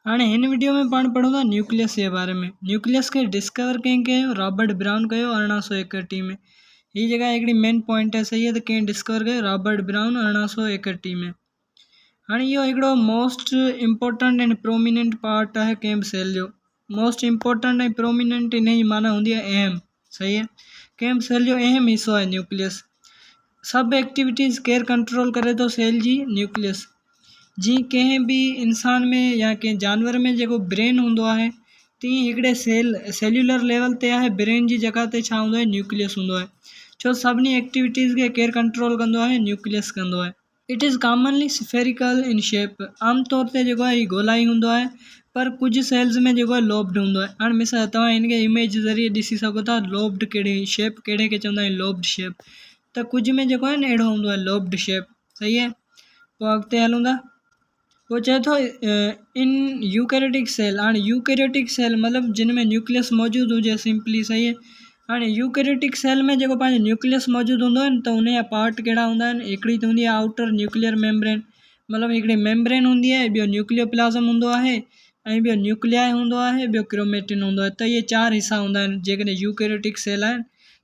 هاڻي هن وڊيو ۾ پاڻ پڙهون ٿا نيوڪليس جي باري ۾ نيوڪليس کي ڊسڪور ڪنهن ڪيو رابرٽ برائون ڪيو ارڙهن سو ايڪٽيهه ۾ هي جيڪا هڪڙي مين پوائنٽ آهي صحيح ته ڪنهن ڊسڪور ڪيو رابرٽ برائون ارڙهن سو ايڪٽيهه ۾ هاڻي اهو هڪڙو موسٽ امپورٽنٽ ۽ پروميننٽ پارٽ آهي ڪنهن به سيل جو موسٽ امپورٽنٽ ۽ پروميننٽ ان جي معنيٰ هوندي آهي اهم صحيح آهي ڪنهن به سيل جو اهم حصو آهي نيوڪليس سڀ ايڪٽيويٽيز ڪير ڪنٽرول ڪري ٿو سيل جي نيوڪليس جي ڪنهن به انسان ۾ يا ڪنهن جانور ۾ جيڪو برين هوندو آهي تيئن هڪڙي سيل سيلولر ليول تي آهي برين جي جڳھ تي ڇا هوندو آهي نيوڪليس هوندو آهي ڇو سڀني ايڪٽيويٽيز کي ڪير ڪنٽرول ڪندو آهي نيوڪليس ڪندو آهي it is commonly spherical in shape عام طور تي جيڪو هي گولائي هوندو آهي پر ڪجهه سيلز ۾ جيڪو لوبڊ هوندو آهي هاڻي مثال توهان هن کي اميج ذريعي ڏسي سگهو ٿا لوبڊ ڪهڙي شيپ ڪهڙي کي چوندا آهن لوبڊ شيپ ته ڪجهه ۾ جيڪو آهي نه اهڙو هوندو آهي لوبڊ شيپ صحيح آهي پوء اڳتي هلون ٿا هو چئي ٿو، ان يوڪيريٽڪ سيل، هاڻي يوڪيريٽڪ سيل مطلب جن ۾ نيوڪليس موجود هجي، سمپلي صحيح آهي. هاڻي يوڪيريٽڪ سيل ۾ جيڪو پنهنجو نيوڪليس موجود هوندو آهي ته ان جا پارٽ ڪهڙا هوندا آهن، هڪڙي ته هوندي آهي آئوٽر نيوڪليئر ميمبرين مطلب هڪڙي ميمبرين هوندي آهي، ٻيو نيوڪليو پلازم هوندو آهي ۽ ٻيو نيوڪليائي هوندو آهي، ٻيو ڪروميٽن هوندو آهي ته اهي چار حصا هوندا آهن جيڪڏهن يوڪيريٽڪ سيل آهن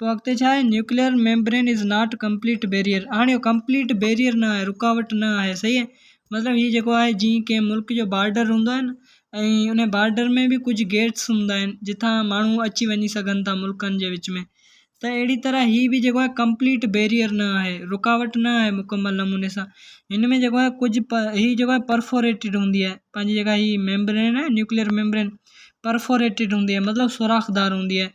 پوء اڳتي ڇا آهي؟ Nuclear membrane is not complete barrier هاڻي اهو ڪمپليٽ بيريئر نه آهي رڪاوٽ نه آهي صحيح آهي مطلب هي جيڪو آهي جيئن ڪنهن ملڪ جو بارڊر هوندو آهي نه ۽ ان بارڊر ۾ به ڪجهه گيٽس هوندا آهن جتان ماڻهو اچي وڃي سگهن ٿا ملڪن جي وچ ۾ ته اهڙي طرح هي به جيڪو آهي ڪمپليٽ بيريئر نه آهي رڪاوٽ نه آهي مڪمل نموني سان هن ۾ جيڪو آهي ڪجهه پ هي جيڪو آهي پرفوريٽيڊ هوندي آهي پنهنجي جيڪا هي ميمبرين آهي نيوڪليئر ميمبرين پرفوريٽيڊ هوندي آهي مطلب سوراخدار هوندي آهي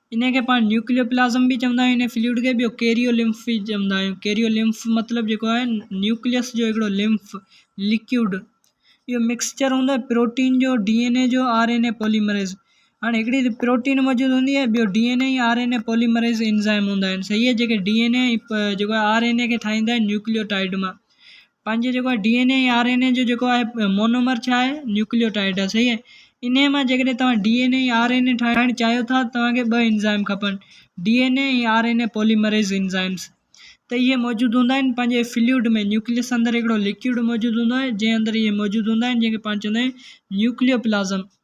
انهي کي پاڻ نيوڪليو پلازم به چوندا آهيون انهي فلوئڊ کي ٻيو ڪيريو لمف به چوندا آهيون ڪيريو لمف مطلب جيڪو آهي نيوڪليس جو هڪڙو لمف ليڪوئڊ اهو مڪسچر هوندو آهي پروٽين جو ڊي اين اي جو آر اين اي پوليمريز هاڻي هڪڙي ته پروٽين موجود هوندي آهي ٻيو D N A ۽ R N A polymerase enzyme هوندا آهن صحيح جيڪي ڊي اين اي ۽ جيڪو آر اين اي کي ٺاهيندا آهن نيوڪليوٽائڊ مان پنهنجي جيڪو آهي D N A ۽ R N A جو جيڪو آهي مونومر ڇا آهي نيوڪليوٽائيڊ آهي صحيح آهي انهي مان جيڪڏهن توهان D N A ۽ R N A ٺاهڻ چاهيو ٿا توهان کي ٻه انزائم کپن D N A ۽ R N A polymerase enzymes ته اهي موجود هوندا آهن پنهنجي فلوئڊ ۾ نيوڪليس اندر هڪڙو لڪوئڊ موجود هوندو آهي جنهن اندر اهي موجود هوندا آهن جنهن کي پاڻ چوندا آهيون نيوڪليو پلازم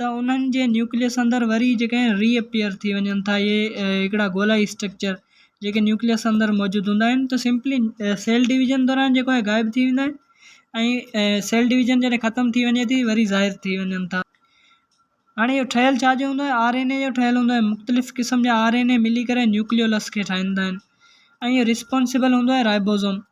ته انهن جي نيوڪليس اندر وري جيڪي آهن ري اپيئر ٿي وڃن ٿا اهي هڪڙا گولائي اسٽرڪچر جيڪي نيوڪليس اندر موجود هوندا آهن ته سمپلي سيل ڊويزن دوران جيڪو آهي غائب ٿي ويندا آهن ۽ سيل ڊويزن جڏهن ختم ٿي وڃي ٿي وري ظاهر ٿي وڃن ٿا هاڻي اهو ٺهيل ڇا جو هوندو آهي آر اين اي جو ٺهيل هوندو آهي مختلف قسم جا آر اين اي ملي ڪري نيوڪليولس کي ٺاهيندا آهن ۽ اهو رسپانسبل هوندو آهي رائبوزوم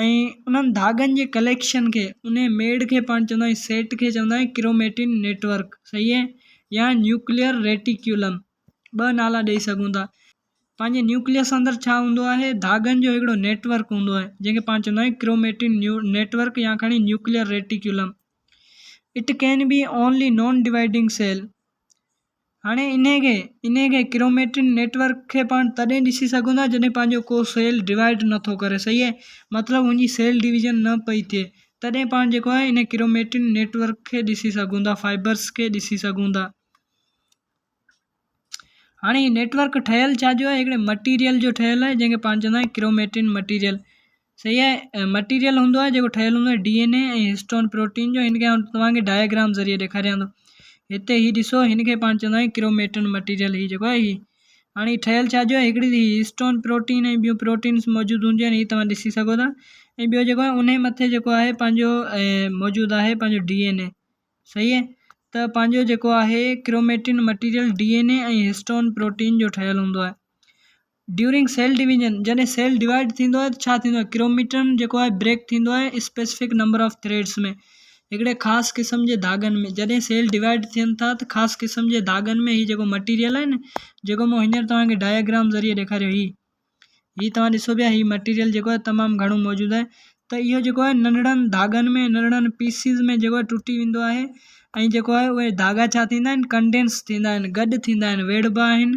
۽ انهن ڌاڳن جي ڪليڪشن کي انهي ميڙ کي پاڻ چوندا آهيون سيٽ کي چوندا آهيون ڪروميٽن نيٽ ورڪ صحيح اهي يا نيوڪليئر ريٽيڪيولم ٻه نالا ڏئي سگهون ٿا پنهنجي نيوڪليس اندر ڇا هوندو آهي ڌاڳن جو هڪڙو نيٽ ورڪ هوندو آهي جنهن کي پاڻ چوندا آهيون ڪروميٽن نيو نيٽ ورڪ يا کڻي nuclear reticulum it can be only non dividing cell هاڻي انهي کي انهي کي ڪروميٽين نيٽ ورڪ کي پاڻ تڏهن ڏسي سگهون ٿا جڏهن پنهنجو ڪو سيل ڊوائيڊ نه ٿو ڪري صحيح مطلب ان جي سيل ڊويزن نه پئي ٿئي تڏهن پاڻ جيڪو آهي انهي ڪروميٽين نيٽ ورڪ کي ڏسي سگهون ٿا فائبرس کي ڏسي سگهون ٿا هاڻي نيٽ ورڪ ٺهيل ڇا جو آهي هڪڙي مٽيريل جو ٺهيل آهي جنهن کي پاڻ چوندا آهيون ڪروميٽين مٽيريل صحيح آهي مٽيريل هوندو آهي جيڪو ٺهيل هوندو آهي D N A ۽ histone protein جو هن کي آئون توهان کي ڊائگرام ذريعي ڏيکاريان ٿو هتي هي ڏسو هن کي پاڻ چوندا آهيون ڪروميٽن مٽيريل هي جيڪو آهي هي هاڻي هي ٺهيل ڇا جو هڪڙي هي هسٽون پروٽين ۽ ٻيون پروٽينس موجود هونديون آهن هي توهان ڏسي سگهو ٿا ۽ ٻيو جيڪو آهي ان جي مٿي جيڪو آهي پنهنجو موجود آهي پنهنجو ڊي اين اي صحيح آهي ته پنهنجو جيڪو آهي chromatin material D N A ۽ histone protein جو ٺهيل هوندو آهي ڊيورنگ سيل ڊويزن، جڏهن سيل ڊوائيڊ ٿيندو آهي ته ڇا ٿيندو آهي، ڪروميٽن جيڪو آهي بريڪ ٿيندو آهي اسپيسفڪ نمبر آف ٿريڊس ۾، هڪڙي خاص قسم جي ڌاڳن ۾، جڏهن سيل ڊوائيڊ ٿين ٿا ته خاص قسم جي ڌاڳن ۾، هي جيڪو مٽيريل آهي نه جيڪو مون هينئر توهان کي ڊائگرام ذريعي ڏيکاريو هي هي توهان ڏسو پيا هي مٽيريل جيڪو آهي تمام گهڻو موجود آهي ته اهو جيڪو آهي ننڍڙن ڌاڳن ۾ ننڍڙن پيسز ۾ جيڪو آهي ٽٽي ويندو آهي ۽ جيڪو آهي اهي ڌاڳا ڇا ٿيندا آهن ڪنڊينس ٿيندا آهن گڏ ٿيندا آهن ويڙهبا آهن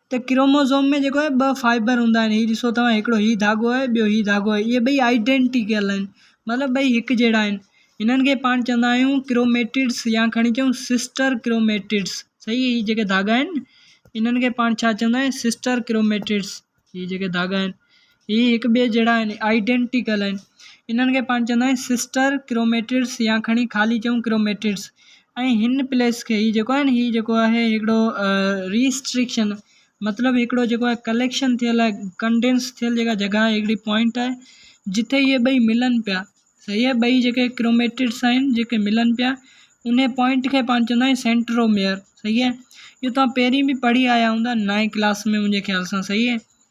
ته ڪروموزوم ۾ جيڪو آهي ٻه فائبر هوندا آهن هي ڏسو توهان هڪڙو هي ڌاڳو آهي ٻيو هي ڌاڳو آهي اهي ٻئي آئيڊينٽيڪل آهن مطلب ٻئي هڪ جهڙا آهن هنن کي پاڻ چوندا آهيون ڪروميٽڊس يا کڻي چئون سسٽر ڪروميٽڊس صحيح هي جيڪي ڌاڳا آهن انهن کي پاڻ ڇا چوندا آهيون سسٽر ڪروميٽڊس هي جيڪي ڌاڳا آهن هي هڪ ٻئي جهڙا آهن، Identical، آهن. انهن کي پاڻ چوندا آهن Sister Chromatids يا کڻي خالي چئون Chromatids ۽ هن پليس کي هي جيڪو آهي نه هي جيڪو آهي هڪڙو Restriction مطلب هڪڙو جيڪو آهي Collection ٿيل آهي Condense ٿيل جيڪا جڳهه آهي هڪڙي Point آهي جتي هي ٻئي ملن پيا صحيح آهي ٻئي جيڪي Chromatids آهن جيڪي ملن پيا انهي Point کي پاڻ چوندا آهن Centromere صحيح آهي اهو توهان پهرين به پڙهي آيا هوندا نائين ڪلاس ۾ منهنجي خيال سان صحيح آهي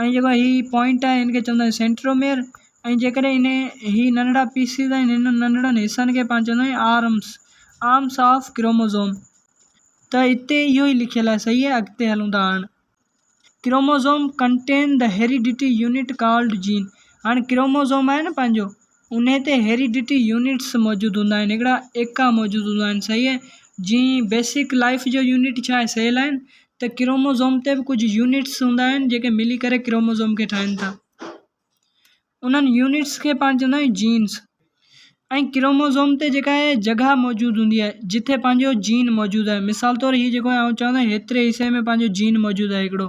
۽ جيڪو هي پوائنٽ آهي هن کي چوندا آهيون سينٽروميئر ۽ جيڪڏهن هن هي ننڍڙا پيسز آهن هنن ننڍڙن حصن کي پاڻ چوندا آهيون آرمس آرمس آف ڪروموزوم ته هتي اهو ئي لکيل آهي صحيح آهي اڳتي هلون ٿا هاڻ chromosome contain the heredity unit called gene هاڻ ڪروموزوم آهي نه پنهنجو ان تي هيريڊٽي يونٽس موجود هوندا آهن هڪڙا ايڪا موجود هوندا آهن صحيح هي جيئن بيسڪ لائف جو يونٽ ڇا آهي سيل آهن ته ڪروموزوم تي به ڪجهه يونٽس هوندا آهن جيڪي ملي ڪري ڪروموزوم کي ٺاهن ٿا انهن يونٽس کي پاڻ چوندا آهيون جينس ۽ ڪروموزوم تي جيڪا هي جڳهه موجود هوندي آهي جتي پنهنجو جين موجود آهي مثال طور هي جيڪو آئون چوان ٿو هيتري حصي ۾ پنهنجو جين موجود آهي هڪڙو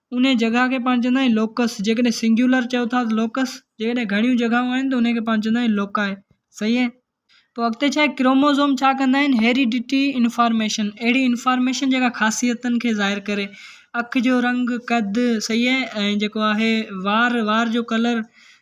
انهيء جڳهه کي پاڻ چوندا آهيون لوڪس، جيڪڏهن سنگيولر چئو ٿا ته لوڪس، جيڪڏهن گهڻيون جڳهون آهن ته انهيء کي پاڻ چوندا آهيون لوڪاء. صحيح آهي. پوء اڳتي ڇا آهي، ڪروموزوم ڇا ڪندا آهن، هيريڊٽي انفارميشن، اهڙي انفارميشن جيڪا خاصيتن کي ظاهر ڪري، اک جو رنگ، قد، صحيح آهي، ۽ جيڪو آهي وار، وار جو ڪلر،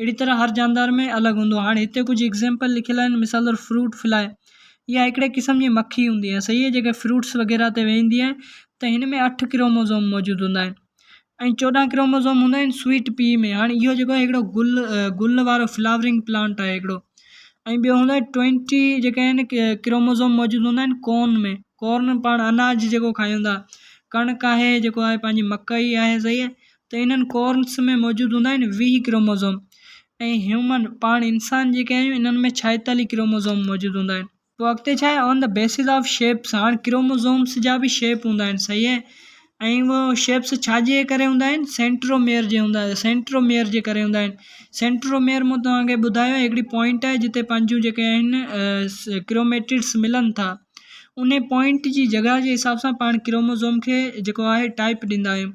اهڙي طرح هر جاندار ۾ الڳ هوندو آهي. هاڻي هتي ڪجهه ايگزيمپل لکيل آهن مثال طور فروٽ فلائي اها هڪڙي قسم جي مکي هوندي آهي صحيح جيڪا فروٽس وغيره تي ويهندي آهي ته هن ۾ اٺ ڪروموزوم موجود هوندا آهن ۽ چوڏهن ڪروموزوم هوندا آهن سويٽ پي ۾ هاڻي اهو جيڪو آهي هڪڙو گل گل وارو فلاورنگ پلانٽ آهي هڪڙو ۽ ٻيو هوندو آهي ٽوينٽي جيڪا آهن ڪروموزوم موجود هوندا آهن ڪون ۾ ڪورن پاڻ اناج جيڪو کائيون ٿا ڪڻڪ آهي جيڪو آهي پنهنجي مڪئي آهي صحيح ته انهن ڪورنس ۾ موجود هوندا آهن ويهه ڪروموزوم ۽ هيومن پاڻ انسان جيڪي آهيون انهن ۾ ڇائيتاليهه ڪروموزوم موجود هوندا آهن پوء اڳتي ڇا آهي on the basis of shapes هاڻ ڪروموزومس جا به شيپ هوندا آهن صحيح اهي ۽ اهي شيپس ڇا جي ڪري هوندا آهن سينٽروميئر جي هوندا آهن سينٽروميئر جي ڪري هوندا آهن سينٽروميئر مون توهان کي ٻڌايو هڪڙي پوائنٽ آهي جتي پنهنجون جيڪي آهن ڪروميٽيڊس ملن ٿا انهي پوائنٽ جي جڳهه جي حساب سان پاڻ ڪروموزوم کي جيڪو آهي ٽائپ ڏيندا آهيون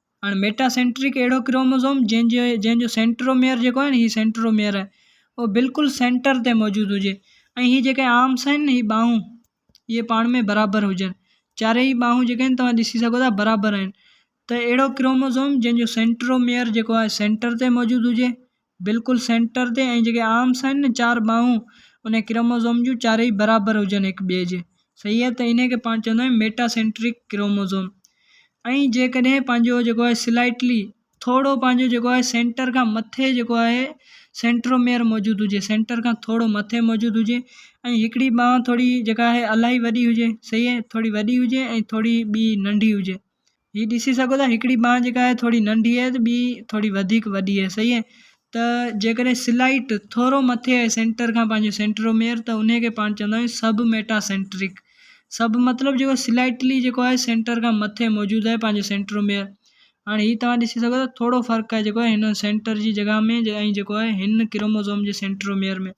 هاڻ ميٽا سينٽرڪ اهڙو ڪروموزوم جنهن جي جنهن جو سينٽروميئر جيڪو آهي نه هي سينٽروميئر آهي اهو بلڪل سينٽر تي موجود هجي ۽ هي جيڪي آرمس آهن نه هي ٻانهون هي پاڻ ۾ برابر هجن چارئي هي ٻانهون جيڪي آهن توهان ڏسي سگهو ٿا برابر آهن ته اهڙو ڪروموزوم جنهن جو سينٽروميئر جيڪو آهي سينٽر تي موجود هجي بلڪل سينٽر تي ۽ جيڪي آرمس آهن نه چار ٻانهون ان ڪروموزوم جون چارئي برابر هجن هڪ ٻئي جي صحيح آهي ته ان کي پاڻ چوندا آهيون ميٽا سينٽرڪ ڪروموزوم ۽ جيڪڏهن پنهنجو جيڪو آهي سلائيٽلي ٿورو پنهنجو جيڪو آهي سينٽر کان مٿي جيڪو آهي سينٽروميئر موجود هجي سينٽر کان ٿورو مٿي موجود هجي ۽ هڪڙي ٻانهن ٿوري جيڪا آهي الاهي وڏي هجي صحيح آهي ٿوري وڏي هجي ۽ ٿوري ٻي ننڍي هجي هي ڏسي سگهو ٿا هڪڙي ٻانهن جيڪا آهي ٿوري ننڍي آهي ته ٻي ٿوري وڌيڪ وڏي آهي صحيح آهي ته جيڪڏهن سلائٽ ٿورو مٿي آهي سينٽر کان پنهنجو سينٽروميئر ته ان کي پاڻ چوندا آهيون سب ميٽا سينٽرڪ سب مطلب جيڪو سلائٽلي جيڪو آهي سينٽر کان مٿي موجود آهي پنهنجو سينٽروميئر هاڻي هي توهان ڏسي سگهو ٿا ٿورو فرق آهي جيڪو آهي هن سينٽر جي جڳهه ۾ ۽ جيڪو آهي هن ڪروموزوم جي سينٽروميئر ۾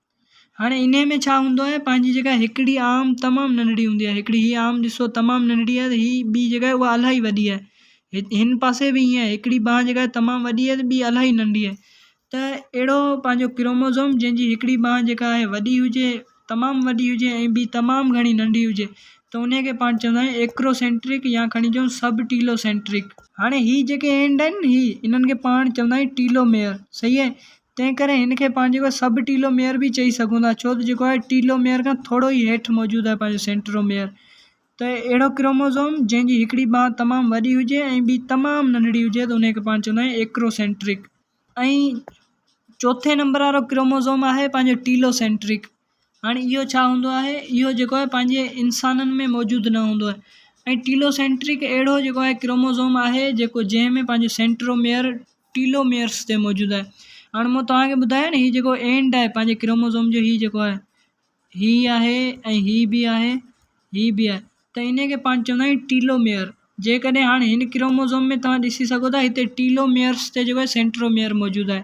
هاڻي انهيء ۾ ڇا هوندو آهي پنهنجي جيڪا هڪڙي آم تمام ننڍڙي هوندي آهي هڪڙي هي آم ڏسو تمام ننڍڙي آهي ته هي ٻي جيڪا آهي اها الاهي وڏي آهي هن پاسي به ائين آهي هڪڙي بانهه جيڪا آهي تمام وڏي آهي ته ٻي الاهي ننڍي آهي ته اهڙو پنهنجو ڪروموزوم جنهن جي هڪڙي بانهه جيڪا آهي وڏي هجي تمام وڏي هجي ۽ ٻي تمام گهڻي ننڍي هجي ته انهيء کي پاڻ چوندا آهيون ايڪروسينٽرڪ يا کڻي چئون سب ٽيلوسينٽرڪ هاڻي هي جيڪي اينڊ آهن هي انهن کي پاڻ چوندا آهيون ٽيلوميئر صحيح آهي تنهنڪري هن کي پنهنجي اهو سب ٽيلو ميئر به چئي سگهون ٿا ڇو ته جيڪو آهي ٽيلو ميئر کان ٿورو ئي هيٺ موجود آهي پنهنجو سينٽرو ميئر ته اهڙو ڪروموزوم جنهن جي هڪڙي ٻانهن تمام وڏي هجي ۽ ٻي تمام ننڍڙي هجي ته انهيء کي پاڻ چوندا آهيون ايڪرو سينٽرڪ ۽ چوٿين نمبر وارو ڪروموزوم آهي پنهنجو ٽيلو سينٽرڪ هاڻي اهو ڇا هوندو آهي اهو جيڪو آهي پنهنجي انسانن ۾ موجود نه هوندو آهي ۽ ٽيلو سينٽرڪ اهڙو جيڪو آهي ڪروموزوم آهي جيڪو جنهن ۾ پنهنجو سينٽروميئر ٽيلو ميئرس تي موجود آهي هاڻ مون توهان کي ٻڌايو نه هي جيڪو اينڊ آهي پنهنجي ڪروموزوم جو هي جيڪو آهي هي آهي ۽ هي به آهي هي به آهي ته ان کي پاڻ چوندا آهيون ٽيلو ميئر جيڪڏهن هاڻ هن ڪروموزوم ۾ توهان ڏسي سگهو ٿا هتي ٽيلو ميئرس تي جيڪو آهي سينٽروميئر موجود آهي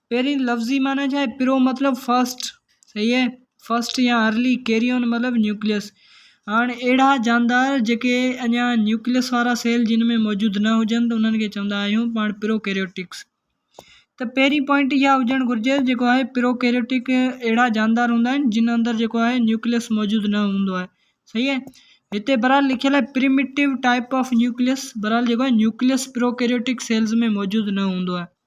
پهرين لفظي معنيٰ ڇا آهي؟ پرو مطلب فرسٽ صحيح اهي فرسٽ يا ارلي ڪيريون مطلب نيوڪليس هاڻ اهڙا جاندار جيڪي اڃا نيوڪليس وارا سيل جن ۾ موجود نه هجن ته انهن کي چوندا آهيون پاڻ پرو ڪيريوٽڪس ته پهرين پوائنٽ اها هجڻ گهرجي جيڪو آهي پرو ڪيريوٽڪ اهڙا جاندار هوندا آهن جن اندر جيڪو آهي نيوڪليس موجود نه هوندو آهي صحيح اهي هتي برحال لکيل آهي پريميٽو ٽائپ آف نيوڪليس برحال جيڪو آهي نيوڪليس پرو ڪيريوٽڪ سيلز ۾ موجود نه هوندو آهي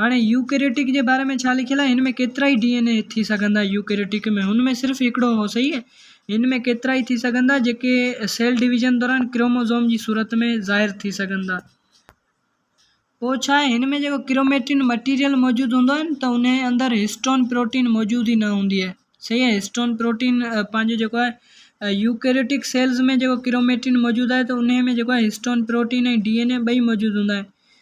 هاڻي يوڪيريٽڪ جي باري ۾ ڇا لکيل آهي؟ هن ۾ ڪيترائي ڊي اين اي ٿي سگهندا يوڪيريٽڪ ۾ هن ۾ صرف هڪڙو هو صحيح هن ۾ ڪيترائي ٿي سگهندا جيڪي سيل ڊويزن دوران ڪروموزوم جي صورت ۾ ظاهر ٿي سگهندا پوء ڇا آهي هن ۾ جيڪو ڪروميٽين مٽيريل موجود هوندو آهي ته ان اندر هسٽون پروٽين موجود ئي نه هوندي آهي صحيح آهي هسٽون پروٽين پنهنجو جيڪو آهي يوڪيريٽڪ سيلز ۾ جيڪو ڪروميٽين موجود آهي ته ان ۾ جيڪو آهي histone protein ۽ D N A ٻئي موجود هوندا آهن